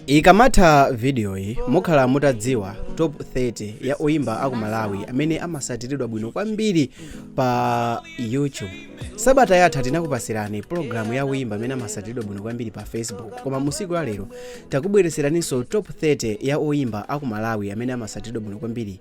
Ikamatha vidiyoyi, mukhala mutadziwa Top 30 ya oyimba a ku Malawi amene amasatiridwa bwino kwambiri pa YouTube. Sabata yatha tinakupatsirani pulogalamu ya oyimba amene amasatiridwa bwino kwambiri pa Facebook, koma musiku la lero takubweretseraninso Top 30 ya oyimba a ku Malawi amene amasatiridwa bwino kwambiri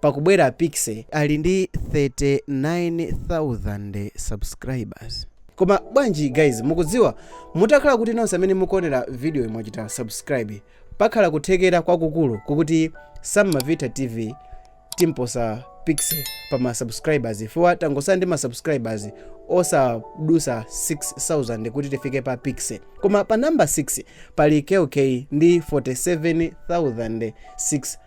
Pakubwera Piksy ali ndi 39,000 subscribers. Koma bwanji guys mukudziwa? Mutakhala kuti nonse amene mukuonera video yi mwachita subscribe, pakhala kuthekera kwakukulu kwakuti Sam Mavitha TV timposa Piksy pa ma subscribers chifukwa tangosala ndi ma subscribers osadusa 6000 kuti tifike pa Piksy. Koma pa number 6 pali Kell Kay ndi 47,600.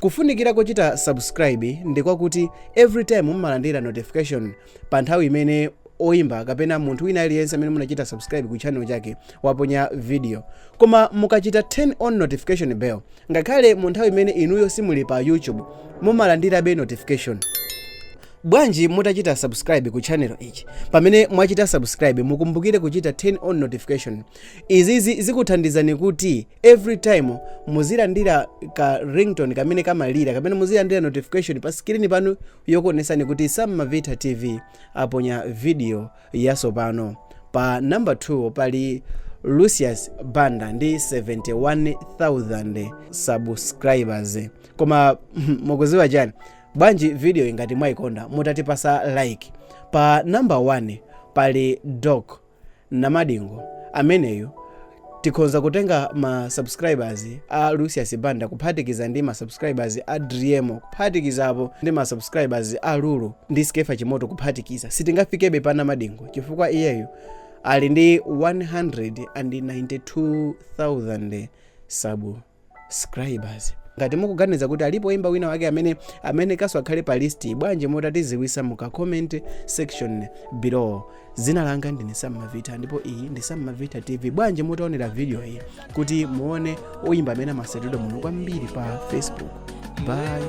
Kufunikira kochita subscribe ndi kwakuti every time mumalandira notification pa nthawi imene oimba kapena munthu wina aliyense amene munachita subscribe ku channel chake waponya video koma mukachita turn on notification bell ngakhale mu nthawi imene inuyo simuli pa youtube mumalandirabe notification bwanji mutachita subscribe ku channel ichi pamene mwachita subscribe mukumbukire kuchita turn on notification izizi zikuthandizani kuti every time muzilandira ka ringtone kamene kamalira kapena muzilandira notification pa skrini panu yokuonesani kuti sam mavitha tv aponya video yasopano pa number 2 pali lucius banda ndi 71000 subscribers koma mukuziwa chani bwanji video yi ngati mwaikonda mutatipasa like pa number 1 pali doc Namadingo ameneyo tikhonza kutenga ma subscribers a Lucius Banda kuphatikiza ndi ma subscribers a Driemo kuphatikizapo ndi ma subscribers a Lulu ndi Skefa Chimoto kuphatikiza sitingafikebe pa Namadingo chifukwa iyeyo ali ndi 192,000 subscribers. subscribers ngati mukuganiza kuti alipo oyimba wina wake amene amenekaso akhale pa list bwanji mutatiziwisa muka comment section below dzina langa ndine sam mavitha ndipo iyi ndi sam mavitha tv bwanji mutaonera video iyi kuti muone oyimba amene amasatidwa bwino kwambiri pa facebook bye